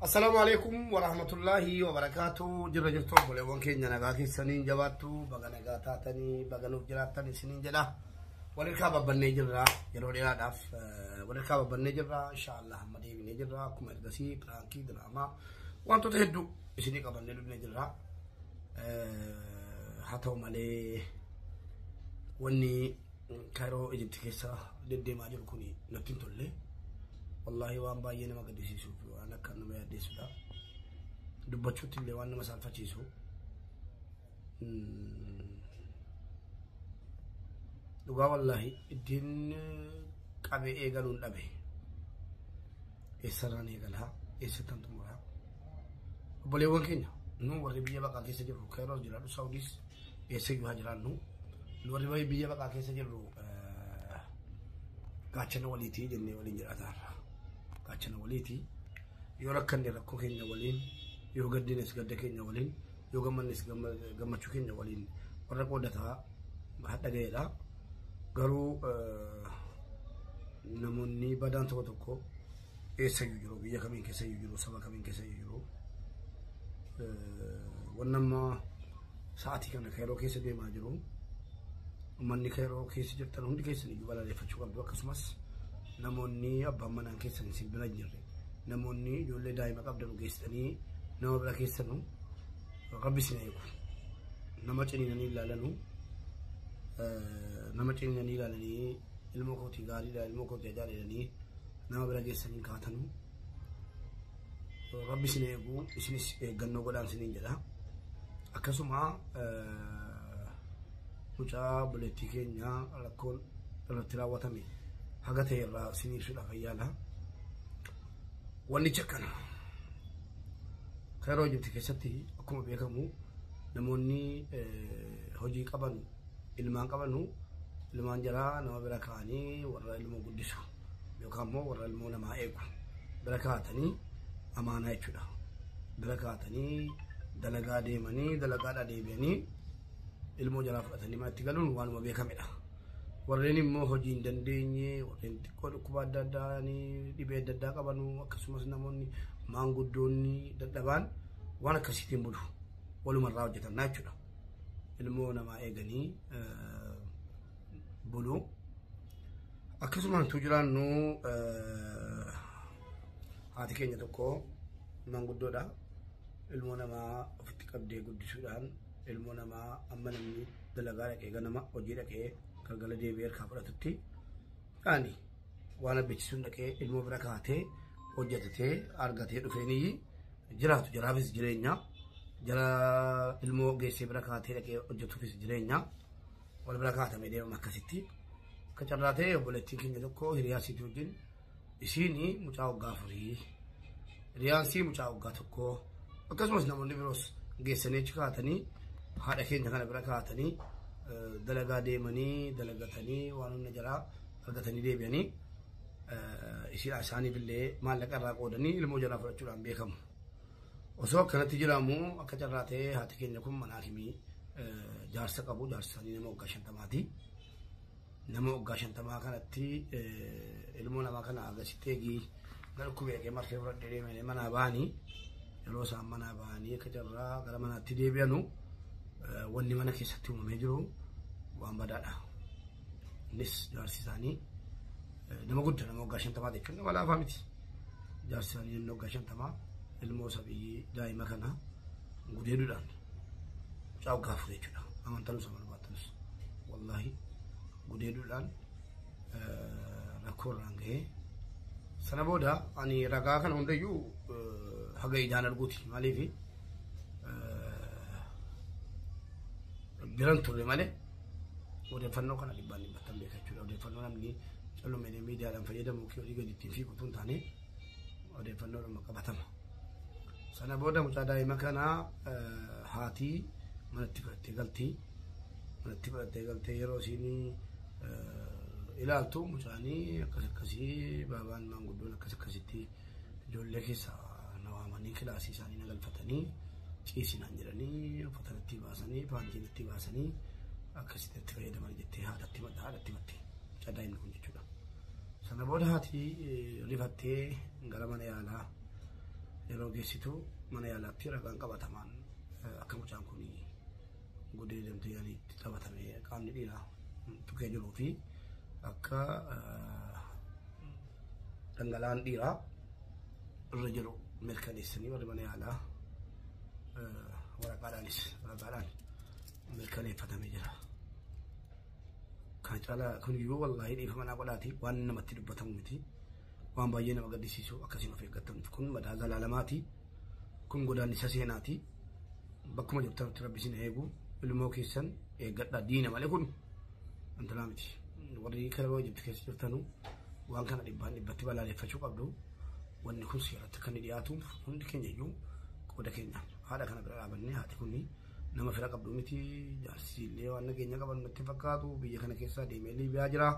Assalaamu alaikum wa rahmatullaahi wa barakaatu. Jirra jirtu obboleewwan keenya nagaa keessaniin jabaattu baga nagaa taatanii baga nuuf jiraattan isiniin jedha. Walirkaa babbannee jirra yeroo dheeraadhaaf eh, walirkaa babbannee jirra inshaallah amma deebinee jirra akkuma ergasii piraankii diraamaa wantoota hedduu isinii qabannee dhufnee jirra. Eh, Haa ta'u malee wanni Kaayiroo Ijipti keessa deddeemaa jiru kun natti hin tolle. Wallaahi waan baay'ee nama gaddisiisuu fi waan akka nama yaaddeessudha. Dubbachuutti illee waan nama saalfachiisu. Dhugaa wallaahi ittiin qabee eegaluun dhabe. Eessarraan eegalaa eessattan xumuraa. Obboleewwan keenya nu warri biyya baqaa keessa jirru Kaayiroo jiraadhu Saawudiis. eessayyuu haa jiraannu nu warri baay'ee biyya baqaa keessa jirru gaachana waliitii jennee waliin jiraataa irra gaachana waliitii yoo rakkanne rakkoo keenya waliin yoo gaddines gadda keenya waliin yoo gammannes gammachuu keenya waliin warra qoodataa hadha ga'eedha garuu namoonni badaan tokko tokko eessayyuu jiru biyya kamiin keessayyuu jiru saba kamiin keessayyuu jiru wanna amma sa'aatii kana keeroo keessa deemaa jiru uummanni keeroo keessa jirtan hundi keessan iyyuu balaaleffachuu qabdu akkasumas namoonni abbaan manaan keessan isin bira hin jirre namoonni ijoollee daa'ima qabdan geessanii nama bira keessanu rabbi isin eegu nama ciniinanii ilaalanu nama ciniinanii ilaalanii ilmoo kootii gaariidha ilmoo kootii ajaa'ibanii nama bira geessan hin kaatanu. Rabbi isin eegu isinis eeggannoo godhaan isiniin jedha. Akkasuma mucaa buleettii keenya rakkoon irratti raawwatame haga ta'e irraa isin ibsuudhaaf ayyaala. Wannichi akkana. Kairoo Ijibti keessatti akkuma beekamu namoonni hojii qaban ilmaan qabanu ilmaan jaraa nama bira kaa'anii warra ilmoo guddisu. yookaan immoo warra ilmoo namaa eegu bira kaa'atanii amaanaa jechuudha. Bira kaa'atanii dalagaa deemanii dalagaadhaa deebi'anii ilmoo jalaa fudhatanii manatti galuun waanuma beekamedha. Warreen immoo hojii hin dandeenye, warreen xiqqoo dhukkuba adda addaa dhibee adda addaa qabanu akkasumas namoonni maanguddoonni dadhabaan waan akkasiitiin bulu walumarraa hojjetan jechuudha. Ilmoo namaa eeganii bulu. Akkasumaan utuu jiraannu haati keenya tokko manguddoodha. Ilmoo namaa ofitti qabdee guddisuudhaan ilmoo namaa amma namni dalagaa dhaqee ganama hojii dhaqee galgala deebi'ee harkaa fudhatutti ani waan abbechisuun dhaqee ilmoo bira kaatee hojjetatee argatee dhufeenii jiraatu jaraafis jireenya jara ilmoo geessee bira kaatee dhaqee hojjetuufis jireenya. wal bira kaatame deemama akkasitti. Akka carraa ta'e obboleettiin keenya tokko hiriyaa isii wajjin isiin mucaa waggaa afurii hiriyaan sii mucaa waggaa tokkoo akkasumas namoonni biroos geessanii achi kaatanii haadha keenya kana bira kaatanii dalagaa deemanii dalagatanii waan hunda jalaa argatanii deebi'anii isiidhaa isaaniif illee maallaqa irraa qoodanii ilmoo jalaa fudhachuudhaan beekamu. Osoo akkanatti jiraamu akka carraa ta'ee haati keenya kun mana hakimii jaarsa qabu jaarsa isaanii nama waggaa shantamaati. Nama waggaa shantamaa kanatti ilmoo namaa kana agasitti eegii na dhukkubee dhaqee marfee fudhadhee deemee manaa ba'anii yeroo isaan manaa ba'anii akka carraa gara manaatti deebi'anu wanni mana keessatti uumamee jiru waan badaadha. Innis jaarsi isaanii nama gudda nama waggaa shantamaa ta'e kenna walaafaa miti. Jaarsi isaanii inni waggaa shantamaa ilmoo sabiyyii daa'ima kana gudeeduudhaan mucaa waggaa afur jechuudha. Amantanus amanamaatanus wallaahi gudeeduudhaan rakkoo irraan gahee sana booda ani ragaa kana hundayyuu haga ijaan arguuti maaliifi biran turre malee Odeeffannoo kana dhibbaan dhibbattan beeka jechuudha. Odeeffannoo namni callumeedha miidiyaadhaan fayyadamu yookiin olii gadi ittiin fiigu tun taane odeeffannoodhuma qabatama. Sana booda mucaa daa'ima kana haati manatti fudhattee galti. Manatti fudhattee galtee yeroo isiin ilaaltu mucaanii akkas akkasii baabaan maanguddoon akkas akkasitti ijoollee keessa na waamanii kilaasii isaanii na galfatanii ciisi naan jedhanii uffata natti baasanii paantii natti baasanii akkasitti itti fayyadaman jettee haadhatti madda haadhatti matte caddaa inni kun jechuudha. Sana booda haati rifattee gara mana yaalaa yeroo geessitu mana yaalaatti ragaan qabatamaan akka mucaan kun godee deemtee yaaliitti taphatamee qaamni dhiiraa tuqee jiruu fi akka dhangala'aan dhiiraa irra jiru mirkaneessanii warri mana yaalaa waraqaadhaanis waraqaadhaan mirkaneeffatamee jira. Kan caalaa kun iyyuu wallaahi dhiifama naa godhaati waan namatti dubbatamu miti. Waan baay'ee nama gaddisiisu akkasiin of eeggattamtu kun madaa zalaalamaati. Kun godaannisa seenaati. Bakkuma jirtanutti rabbi isin eegu. Ilmoo keessan eeggadha diina malee kun intalaa miti. Warri Kairoo Ijipti keessa jirtanu waan kana dhibbaan dhibbatti balaaleffachuu qabdu. Wanni kun seeratti akka inni dhiyaatuuf hundi keenya iyyuu qooda keenya haadha kana bira dhaabannee haati kun Nama fira qabdu miti jaarsi illee waan nageenya qaban natti fakkaatu biyya kana keessaa deemee Liibiyaa jira.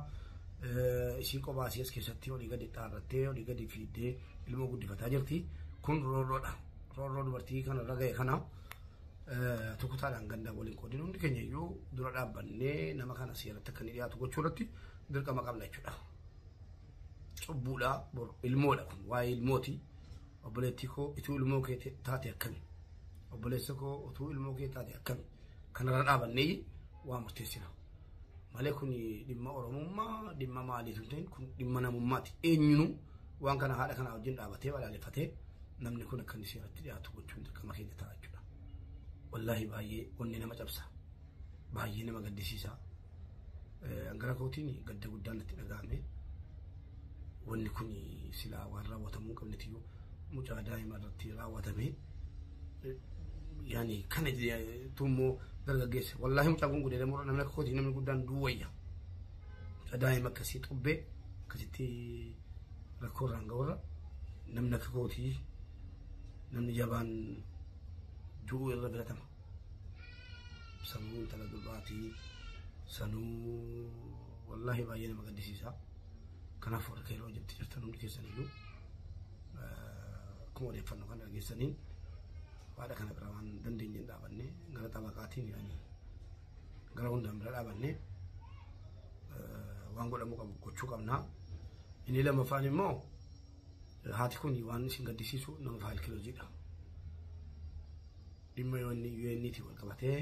Ishii kophaa asii as keessatti olii gadi dhaarrattee olii gadi fiiddee ilmoo guddifataa jirti. Kun roorroodha. Roorroo dubartii kana irra ga'e kana tukutaadhaan gandaan waliin qoodin hundi keenya iyyuu dura dhaabbannee nama kana seeratti akka inni dhiyaatu gochuu irratti dirqama qabna jechuudha. Cubbuudha ilmoodha kun waa'ee ilmooti. obboleettii koo ituu ilmoo kee te- taate akkami obboleessa koo utuu ilmoo kee taate akkami kanarra dhaabannee waa murteessina malee kun dhimma oromummaa dhimma maalii tun ta'in kun dhimma namummaati eenyunuu waan kana haadha kanaa wajjin dhaabatee balaaleffatee namni kun akka inni seeratti dhiyaatu gochuun dirqama keenya ta'a jechuudha wallaahi baay'ee onni nama cabsa Baay'ee nama gaddisiisa. Gara kootiin gadda guddaan natti dhaga'ame. Wanni kun silaa waan raawwatamuu qabnetiyyuu mucaa daa'ima irratti raawwatame. Yani kana tummoo dargaggeessa. Wallaahi mucaan kun gudeedamuu irra namni akka kootii namni guddaan duwwayya. Mucaa daa'ima akkasii xubbee akkasitti rakkoo irraan ga'urra namni akka kootii namni jabaan du'uu irra biratama. Sanuu intala durbaatii sanuu wallaahi baay'ee nama gaddisiisa. Kanaaf warra keeroo hojjetti jirtan hundi keessaniyyuu akkuma odeeffannoo kana dhageessaniin haadha kana bira waan dandeenyeen dhaabanne gara xabaqaatiin jedhanii gara hundaan bira dhaabanne waan godhamuu qabu gochuu qabna. Inni lammaffaan immoo haati kun waan isin gaddisiisu nama faayilkilojiidha. Dhimma UN'tiin wal qabatee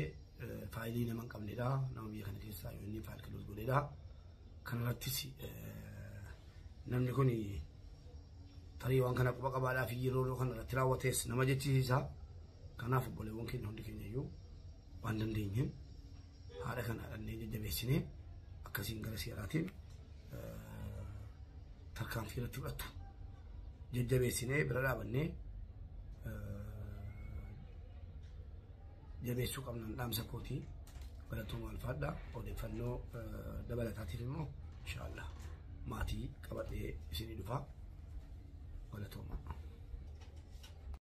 faayilii nama hin qabnedha. Nama biyya kana keessaa UN faayil kiloos godhedha. Kanarrattis namni kun tarii waan kana quba qabaadhaa fi yeroo kana irratti raawwatees nama jechisiisa. Kanaaf obboleewwan keenya hundi keenya iyyuu waan dandeenyeen Haadha kana illee jajjabeessinee akkasiin gara seeraatiin tarkaanfii irratti fudhattu. Jajjabeessinee bira dhaabannee jabeessuu qabna dhaamsa kootii barattooma alfaadha. Odeeffannoo dabalataatiif immoo inshaallah maatii qabadhee isinii dhufaa. Barattooma.